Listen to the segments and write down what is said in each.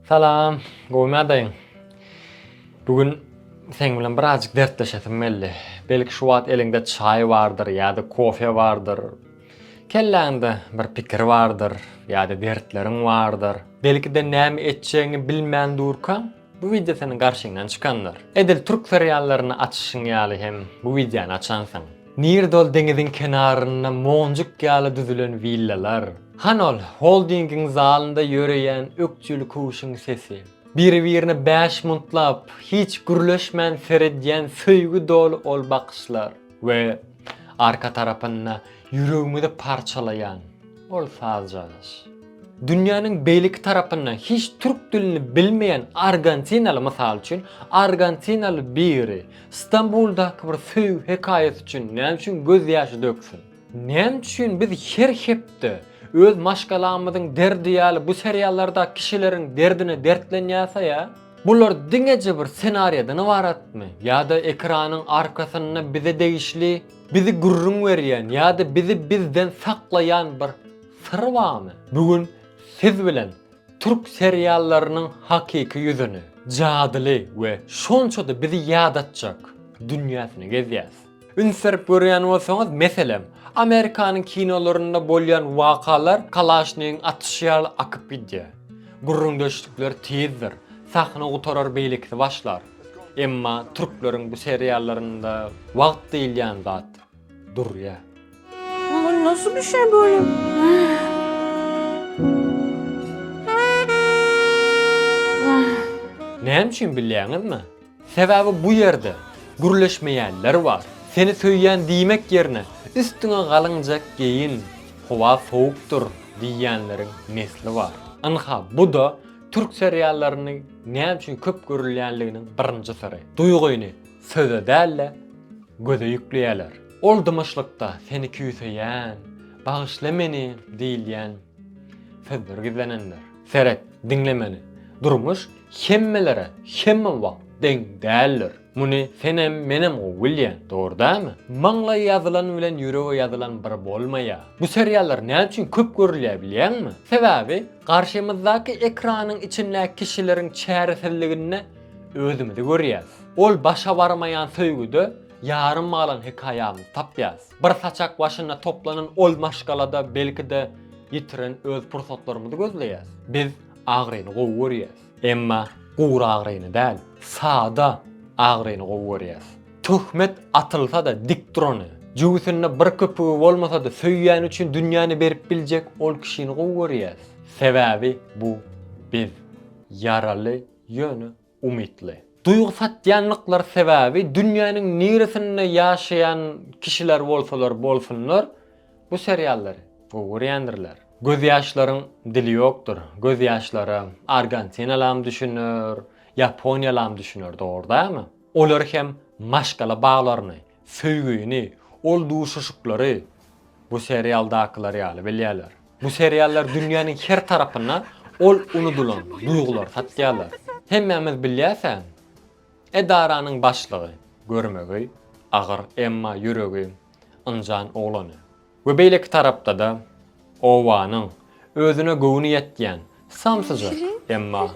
Salam, gowmy adaýyň? Bu gün seň bilen birazjyk dertleşesim geldi. Belki şu wagt eliňde çaý bardyr ýa-da kofe bardyr. Kelläňde bir pikir bardyr ýa-da dertleriň bardyr. Belki-de näme etjegiňi bilmän durkaň, bu wideo seniň garşyňdan çykandyr. Edil türk seriallaryny açyşyň ýaly hem bu wideony açansyň. Nirde ol deňiziň kenarynda monjuk ýaly düzülen willalar? Hany ol holdingiň zalynda ýöreýän ökjeli köwşüň sesi? Biri-birine bäş muntlap, hiç gürleşmän seredýän söýgi doly ol bakyşlar? We arka tarapynda ýüregimizi parçalaýan ol saz çalyş? Dünýäniň beýleki tarapynda hiç türk dilini bilmeýän argentinaly, mysal üçin, argentinaly biri, Stambuldaky bir söýgi hekaýasy üçin näme üçin göz ýaşy döksün? Näme üçin biz her hepde öz maşgalamyzyň derdi ýaly bu seriallardaky kişileriň derdine dertlenýäsä? Bular diňeje bir senariýadan ybaratmy? Ýa-da ekranyň arkasynda bize degişli, bizi gürrüň berýän ýa-da bizi bizden saklaýan bir syr barmy? Bu gün siz bilen Türk seriallarynyň hakyky ýüzüni, jadyly we şonça-da bizi ýadatjak dünýäsini gezýäs. Üns berip görýän bolsaňyz, meselem, Amerikanyň kinolarynda bolýan wakalar kalaşnigiň atyşy ýaly akyp gidýär. Gürrüňdeşlikler tizdir, sahna gutarar beýlekisi başlar. Emma türkleriň bu seriallarynda wagt diýilýän zat. durýar. Olar nasıl bir şey böyle? Näme üçin bilýäňizmi? Sebäbi bu ýerde gürleşmeýänler bar. Seni söýýän diýmek ýerine üstüňe galyňjak geýin, howa sowukdyr diýýänleriň nesli bar. Ynha, bu-da türk seriallarynyň näme üçin köp görülýänliginiň birinji syry. Duýgyny Söze däl-de, göze ýükleýärler. Ol dymyşlykda seni küýseýän, bagyşla meni diýilýän sözler gizlenendir. Seret, diňle meni. Durmuş hemmelere hemme wagt deň däldir. Muny senem, menem gowy bilýän, dogry dälmi? Maňlaýa ýazylan bilen ýürege ýazylan bir bolmaýar. Bu seriallar näme üçin köp görülýär bilýäňmi? Sebäbi garşymyzdaky ekranyň içindäki kişileriň çäresizliginde özümizi görýäs. Ol başa barmaýan söýgüde ýarym galan hekaýamyzy tapýas. Bir saçak başynda toplanan ol maşgalada belki-de ýitiren öz pursatlarymyzy gözleýäs. Biz agyryny gowy görýäs. Emma gury agyryny däl, sada agyryny gowy görýäs. Töhmet atylsa-da dik durany, jübüsinde bir köpügi bolmasa-da söýýäni üçin dünýäni berip biljek ol kişini gowy görýäs. Sebäbi bu biz. Ýaraly ýöne umytly. Duýgy satýanlyklary sebäbi dünýäniň niresinde ýaşaýan kişiler bolsalar bolsunlar bu seriallary gowy görýändirler. Gözýaşlaryň dili ýokdur, gözýaşlara argantinalam düşüner, ýaponiýalam düşüner dogry dämi? Olar hem maşgala baglaryny, Söýgini ol duşuşyklary bu serialdakylar ýaly bilýärler. Bu seriallar dünýäniň her tarapynda ol unudylan duýgulary satýarlar. Hemmämiz bilýärsäň, edaranyň başlygy, görmegi agyr emma ýüregi ynjan oglany. We beýleki tarapda-da obanyň özüne göwni ýetýän samsyja, emma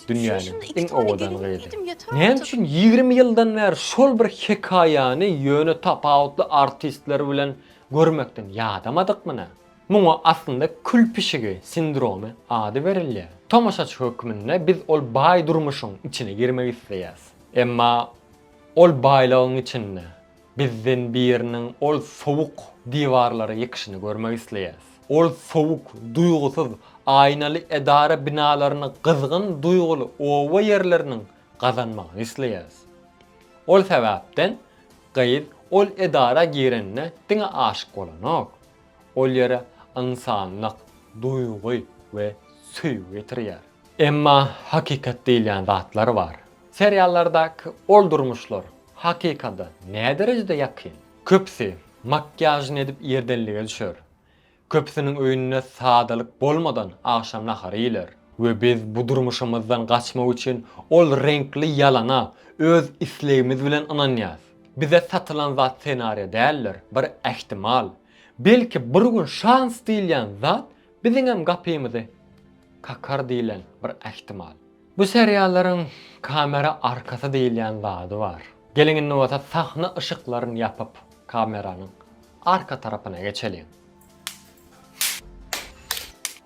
dünýäniň iň owadan gyzy. Näme üçin ýigrimi ýyldan bäri şol bir hekaýany ýöne tapawutly artistler bilen görmekden ýadamadykmy nä? Muňa aslynda kül pişigi sindromy ady berilýär. Tomaşaçy hökmünde biz ol baý durmuşyň içine girmek isleýäs. Emma ol baýlygyň içinde Bizden biriniň ol sowuk diwarlara ýykşyny görmek isleýäs. Ol sowuk, duýgusyz, aýnaly edara binalaryny gyzgyn duýguly oba ýerleriniň gazanmagyny isleýäs. Ol sebäpden gyz ol edara girende diňe aşyk bolanok. Ol ýere ynsanlyk, duýgy we söýgi getirýär. Emma hakykat diýilýän zatlar bar. Seriallardaky ol durmuşlar Hakykada näderejede ýakyn? Köpüsi makiýažyny edip ýerdenlige düşer. Köpüsiniň öýünde sadalyk bolmadan agşam nahary iýiler. We biz bu durmuşymyzdan gaçmak üçin ol reňkli ýalana öz islegimiz bilen ynanýas. Bize satylan zat senariýa däldir, bir ähtimal. Belki bir gün şans diýilýän zat biziňem gapymyzy kakar diýlen bir ähtimal. Bu seriallaryň kamera arkasy diýilýän zady bar. Geliň indi bolsa sahna yşyklaryn ýapyp kameranyň arka tarapyna geçeliň.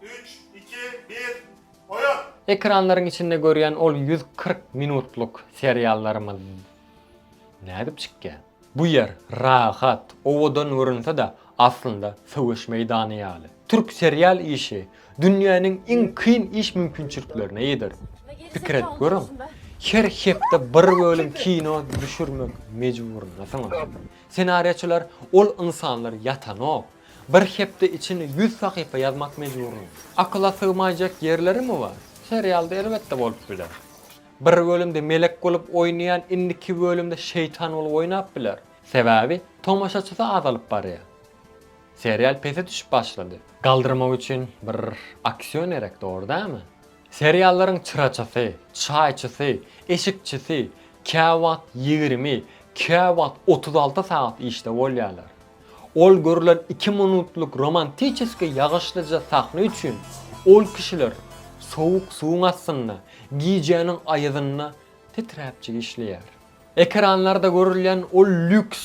Üç, iki, bir, oýan! Ekranlaryň içinde görýän ol ýüz kyrk minutlyk seriallarymyz nädip çykýar? Bu ýer rahat, owadan görünse-de, aslynda söweş meýdany ýaly. Türk serial işi dünýäniň iň kyn iş mümkinçiliklerine eýedir. Pikir edip görüň, her hepde bir bölüm kino düşürmek mejburyndasyňyz. Ssenariýaçylar ol ynsanlar ýatanok. Bir hepde içinde ýüz sahypa ýazmak mejburyň. Akyla sygmaýjak ýerlerimi bar? Serialda elbetde bolup biler. Bir bölümde melek bolup oýnaýan indiki bölümde şeýtan bolup oýnap biler. Sebäbi tomaşaçysy azalyp barýar. Serial pese düşüp başlady. Galdyrmak üçin bir aksiýon gerek dogry dämi? Seriallaryň çyraçysy, çaýçysy, eşikçisi käwagt ýigrimi, käwagt otuz alty sagat işde bolýarlar. Ol görlen iki minutlyk romantiçeskiý ýagyşlyja sahna üçin ol kişiler sowuk suwuň astynda, gijäniň aýazynda titräpjik işleýär. Ekranlarda görülýän ol lýuks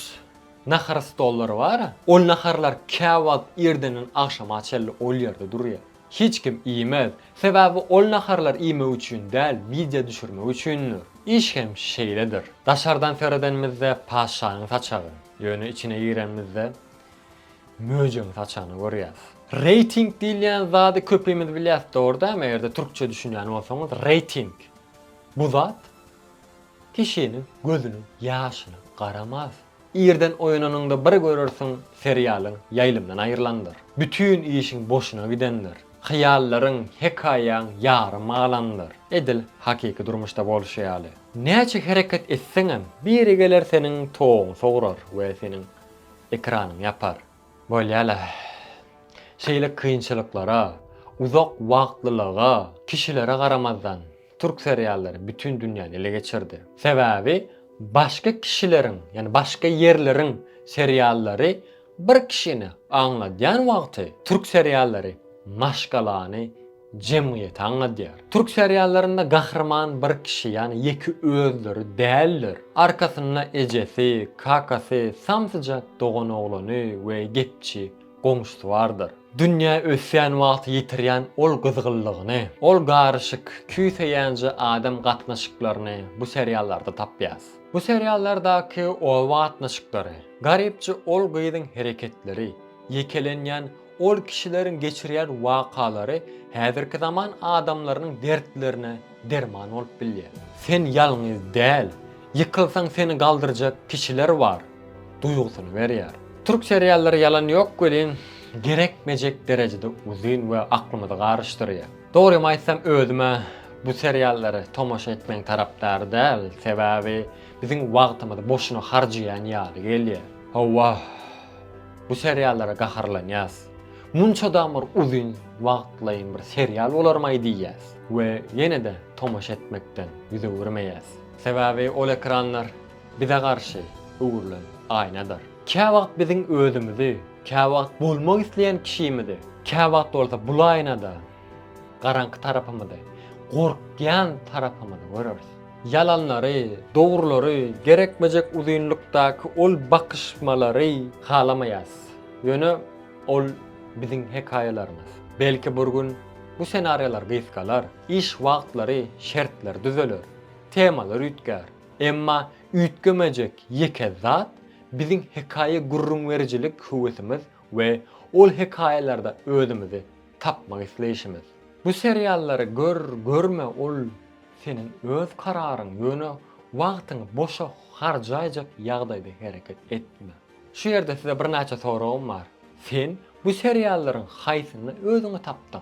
nahar stollary bar-a, ol naharlar käwagt irdenden agşama çenli ol ýerde durýar. Hiç kim iýmez, sebäbi ol naharlar iýmek üçin däl, wideo düşürmek üçindir. Iş hem şeýledir. Daşardan seredenimizde patyşanyň saçagy. Ýöne içine girenimizde möjegiň saçanyny görýäs. Reýting diýilýän zady köpimiz bilýäs dogry dämi eger-de türkçe düşünýän bolsaňyz reýting bu zat kişiniň gözüniň ýaşyna garamaz. Irden oýananyňda bir görersiň seriýalyň ýaýlymdan aýrylandyr. Bütin işiň boşuna gidendir. Hyýallaryň, hekaýaň ýary malandyr. Edil hakyky durmuşda bolşy ýaly. Näçe hereket etseňem, biri geler seniň toguňy sograr we seniň ekranyňy ýapar. Bolýa-la. Şeýle kynçylyklara, uzak wagtlylyga, kişilere garamazdan, türk seriallary bütin dünýäni ele geçirdi. Sebäbi başga kişileriň, ýagny başga ýerleriň seriallary Bir kişini aňladýan wagty türk seriallary maşgalany, jemgyýeti aňladýar. Türk seriallarynda gahryman bir kişi ýani ýeke özleri däldir. Arkasynda ejesi, kakasy, samsyjak doganoglany we gepçi goňşusy bardyr. Dünýä ösýän wagty ýitirýän ol gyzgynlygyny, ol garyşyk, küýseýänje adam gatnaşyklaryny bu seriallarda tapýas. Bu seriallardaky oba gatnaşyklary, garypja ol gyzyň hereketleri, ýekelenýän ol kişileriň geçirýän wakalary häzirki zaman adamlarynyň dertlerine derman bolup bilýär. Sen ýalňyz däl, ýykylsaň seni galdyrjak kişiler bar duýgusyny berýär. Türk seriallary ýalan ýok welin, gerekmejek derejede uzyn we aklymyzy garyşdyrýar. Dogrymy aýtsam özüm-ä bu seriallary tomaşa etmegiň tarapdary däl, sebäbi biziň wagtymyzy boşuna harjaýan ýaly gelýär. Hawa, bu seriallara gaharlanýas. Munçadam bir uzyn wagtlaýyn bir serial bolarmaý diýýäs we ýene-de tomaşa etmekden ýüz öwürmeýäs. Sebäbi ol ekranlar Bize garşy öwrülen aýnadyr. Käwagt biziň özümizi, käwagt bolmak isleýän kişimizi, käwagt bolsa bul aýnada garaňky tarapymyzy, gorkýan tarapymyzy göreris. Ýalanlary, dogrulary, gerekmejek uzynlykdaky ol bakyşmalary halamaýarys. Ýöne ol biziň hekaýalarymyz. Belki bir gün bu senariýalar gysgalar, iş wagtlary, şertler düzeler, temalar üýtgär. Emma üýtgemejek ýeke zat biziň hekaýa gürrüňberijilik höwesimiz we ol hekaýalarda özümizi tapmak isleýşimiz. Bu seriallary gör, görme ol seniň öz kararyň, ýöne wagtyňy boşa harjaýjak ýagdaýda hereket etme. Şu ýerde size birnäçe soragym bar. Sen bu seriallaryň haýsynda özüňi tapdyň?